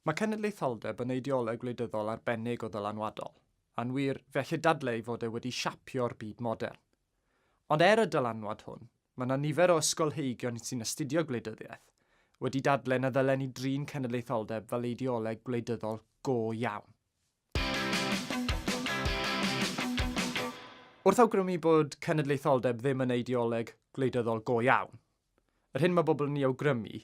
Mae cenedlaetholdeb yn eideoleg wleidyddol arbennig o ddylanwadol, a'n wir, fe allid dadle ei fod e wedi siapio'r byd modern. Ond er y dylanwad hwn, mae 'na nifer o ysgolheigion sy'n astudio gwleidyddiaeth wedi dadle na ddylen ni drin cenedlaetholdeb fel eideoleg gwleidyddol go iawn. Wrth awgrymu bod cenedlaetholdeb ddim yn eideoleg gwleidyddol go iawn, Yr hyn mae bobl yn ei awgrymu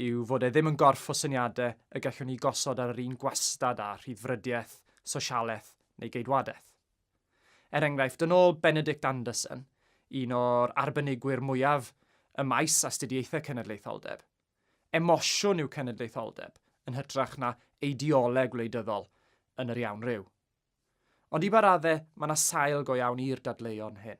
yw fod e ddim yn gorff o syniadau y gallwn ni gosod ar yr un gwastad â rhyddfrydiaeth, sosialaeth neu geidwadaeth. Er enghraifft, yn ôl Benedict Anderson, un o'r arbenigwyr mwyaf ym maes astudiaethau cenedlaetholdeb, emosiwn yw cenedlaetholdeb yn hytrach na eideoleg wleidyddol yn yr iawn ryw. Ond i ba raddau, mae yna sail go iawn i'r dadleuon hyn.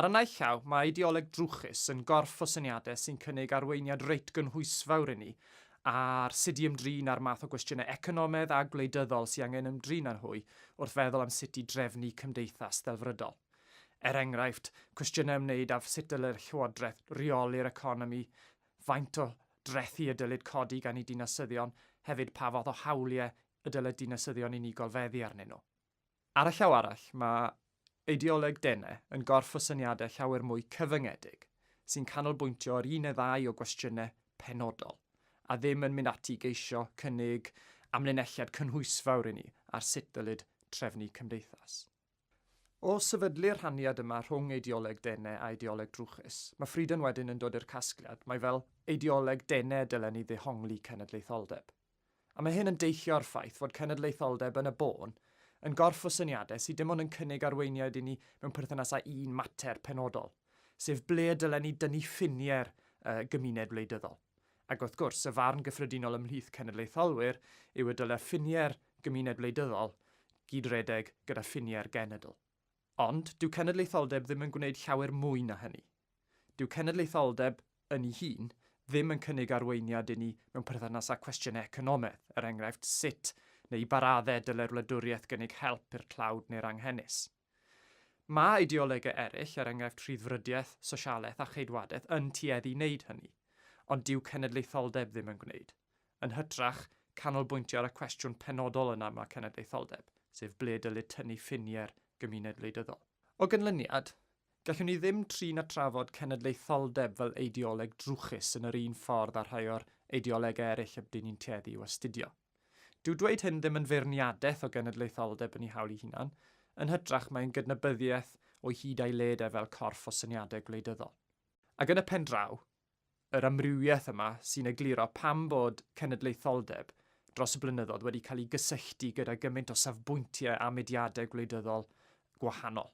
Ar y naill llaw, mae ideoleg drwchus yn gorff o syniadau sy'n cynnig arweiniad reit gynhwysfawr i ni ar sut i ymdrin â'r math o gwestiynau economaidd a gwleidyddol sydd angen ymdrin â nhw wrth feddwl am sut i drefnu cymdeithas ddelfrydol. Er enghraifft, cwestiynau ymwneud â sut dylai'r llywodraeth reoli'r economi, faint o drethi y dylid codi gan eu dinasyddion, hefyd pa fath o hawliau y dylai dinasyddion unigol feddu arnyn nhw. Ar y llaw arall, mae eideoleg Dene yn gorff o syniadau llawer mwy cyfyngedig, sy'n canolbwyntio ar un neu ddau o gwestiynau penodol, a ddim yn mynd ati i geisio cynnig amlinelliad cynhwysfawr i ni ar sut ddylid trefnu cymdeithas. O sefydlu'r rhaniad yma rhwng eideoleg Dene a eideoleg drwchus, mae Frieden wedyn yn dod i'r casgliad mai fel eideoleg Dene y dylen ni ddehongli cenedlaetholdeb. A mae hyn yn deillio o'r ffaith fod cenedlaetholdeb yn y bôn yn gorff o syniadau sydd dim ond yn cynnig arweiniad i ni mewn perthynas â un mater penodol, sef ble y dylen ni dynnu ffiniau'r uh, gymuned wleidyddol. Ac wrth gwrs, y farn gyffredinol ymhlith cenedlaetholwyr yw y dylai ffiniau'r gymuned wleidyddol gyd-redeg gyda ffiniau'r genedl. Ond dyw cenedlaetholdeb ddim yn gwneud llawer mwy na hynny. Dyw cenedlaetholdeb, yn ei hun, ddim yn cynnig arweiniad i ni mewn perthynas â chwestiynau economaidd, er enghraifft sut neu i ba raddau dylai'r wladwriaeth gynnig help i'r tlawd neu'r anghenus. Mae ideolegau eraill, er enghraifft rhyddfrydiaeth, sosialaeth a cheidwadaeth, yn tueddu i wneud hynny, ond dyw cenedlaetholdeb ddim yn gwneud. Yn hytrach, canolbwyntio ar y cwestiwn penodol yn aml cenedlaetholdeb, sef ble dylid tynnu ffiniau'r gymuned wleidyddol. O ganlyniad, gallwn ni ddim trin a trafod cenedlaetholdeb fel eideoleg drwchus yn yr un ffordd â rhai o'r eideolegau eraill ydyn ni'n tueddu i'w astudio. Dyw dweud hyn ddim yn feirniadaeth o genedlaetholdeb yn ei hawl ei hunan, yn hytrach mae'n gydnabyddiaeth o'i hyd a'i led e fel corff o syniadau gwleidyddol. Ac yn y pen draw, yr amrywiaeth yma sy'n egluro pam bod cenedlaetholdeb dros y blynyddoedd wedi cael ei gysylltu gyda gymaint o safbwyntiau a mudiadau gwleidyddol gwahanol,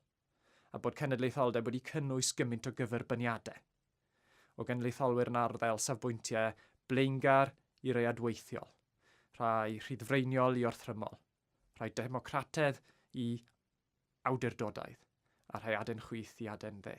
a bod cenedlaetholdeb wedi cynnwys gymaint o gyferbyniadau, o genedlaetholwyr yn arddel safbwyntiau blaengar i rai adweithiol, rhai rhyddfreiniol i orthrymol, rhai democrataidd i awdurdodaidd, a rhai aden chwith i aden dde.